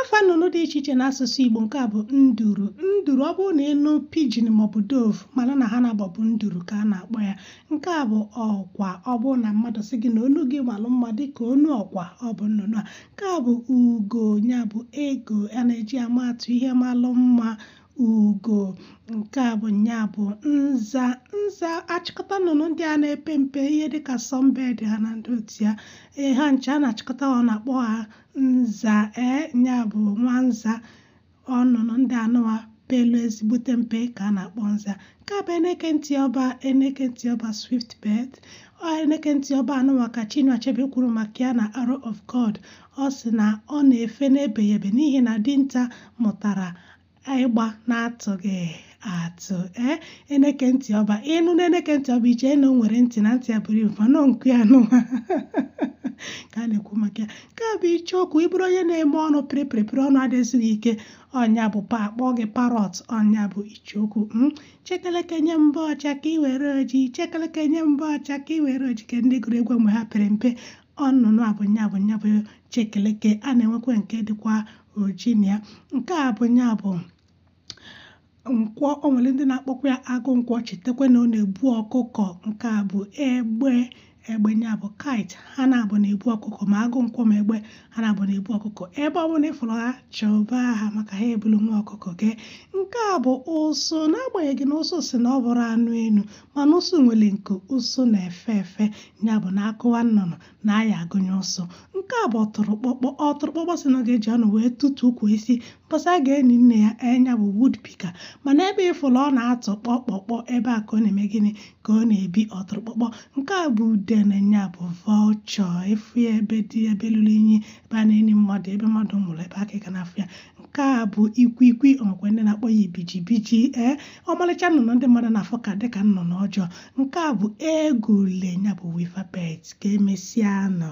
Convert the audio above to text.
afa nnụnụ dị iche iche n'asụsụ Igbo nke a bụ nduru nduru ọ bụrụ na ị nụ pigeon maọbụ dove mala na ha naabọ bụ nduru ka a na-akpọ ya nke a bụ ọkwa ọ bụrụ na mmadụ sị gị na onu gị malụ mma dịka onu ọkwa ọ bụ nnụnụ a nke a bụ ugo ya bụ eagle a na-eji ama atụ ihe malụ mma ugo nke a bụ nya bụ nza nza achịkọta nnụnụ ndị a na-epe mpe ihe dịka sunbird ha na ndị otu ya ee ha ncha a na-achịkọta ọnụ akpọ ha nza ee nya bụ nwa nza ọ nnụnụ ndị anụwa pelu ezigbote mpe ka a na-akpọ nza nke a bụ eneke ntị ọba eneke ntị ọba swift bird ọ eneke ntị ọba anụwa ka Chinua Achebe kwuru maka ya na Arrow of God ọ sị na ọ na-efe na-ebeghị ebe n'ihi na dinta mụtara ịgba na-atụghị atụ ee eh, eneke ntị ọba ị nụ na eneke ntị ọba i chee na o nwere ntị na ntị ya buru ibu mana ọ nku ya anụwa ka a na-ekwu maka ya nke a bụ icheoku ị bụrụ onye na-eme ọnụ pịrịpịrịpịrị ọnụ adị ezu gị ike ọ nya bụ pa a kpọọ gị parrot ọ nya bụ icheokwu hmm? chekeleke nye m mbọ ọcha ka ị were oji chekeleke nye m mbọ ọcha ka ị were oji kee ndị gụrụ egwu mgbe ha pere mpe ọ nnụnụ a bụ nya bụ nya bụ chekeleke a na-enwekwa nke dịkwa oji na ya nke a bụ ya bụ nkwọ o nwere ndị na-akpọkwa ya agụ nkwọ chetakwa na ọ na-ebu ọkụkọ nke a bụ egbe egbe ya bụ kite ha naabọ na-ebu ọkụkọ ma agụ nkwọ ma egbe ha naabọ na-ebu ọkụkọ ebe ọ bụla ị fụrụ ha chụba ha maka ha ebulu nwa ọkụkọ gị nke a bụ ụsụ n'agbanyeghị na ụsụ sị na ọ bụrọ anụ enu mana ụsụ nwere nku ụsụ na-efe efe ya bụ na a kọwa nnụnụ na a ya-agụnye ụsụ nke a bụ ọtụrụkpọkpọ ọtụrụkpọkpọ sị na ọ ga-eji ọnụ wee tụtuo ukwu osisi mbọsị a ga-eni nne ya ee nya bụ woodpecker mana ebe ị fụlụ ọ na-atụ kpọkpọkpọ ebe a ka ọ na-eme gịnị ka ọ na-ebi ọtụrụkpọkpọ nke a bụ udene ya bụ vulture ị fụ ya ebe dị ebe lụrụ inyi ebe a na-eni mmadụ ebe mmadụ nwụrụ ebe a ka ị ga na-afụ ya nke a bụ ikwikwi o nwekwa ndị na-akpọ ya ibijibiji ee ọmalịcha nnụnụ ndị mmadụ na-afụ ka dịka nnụnụ ọjọọ nke a bụ egule nya bụ weaver bird ka emesịa nụ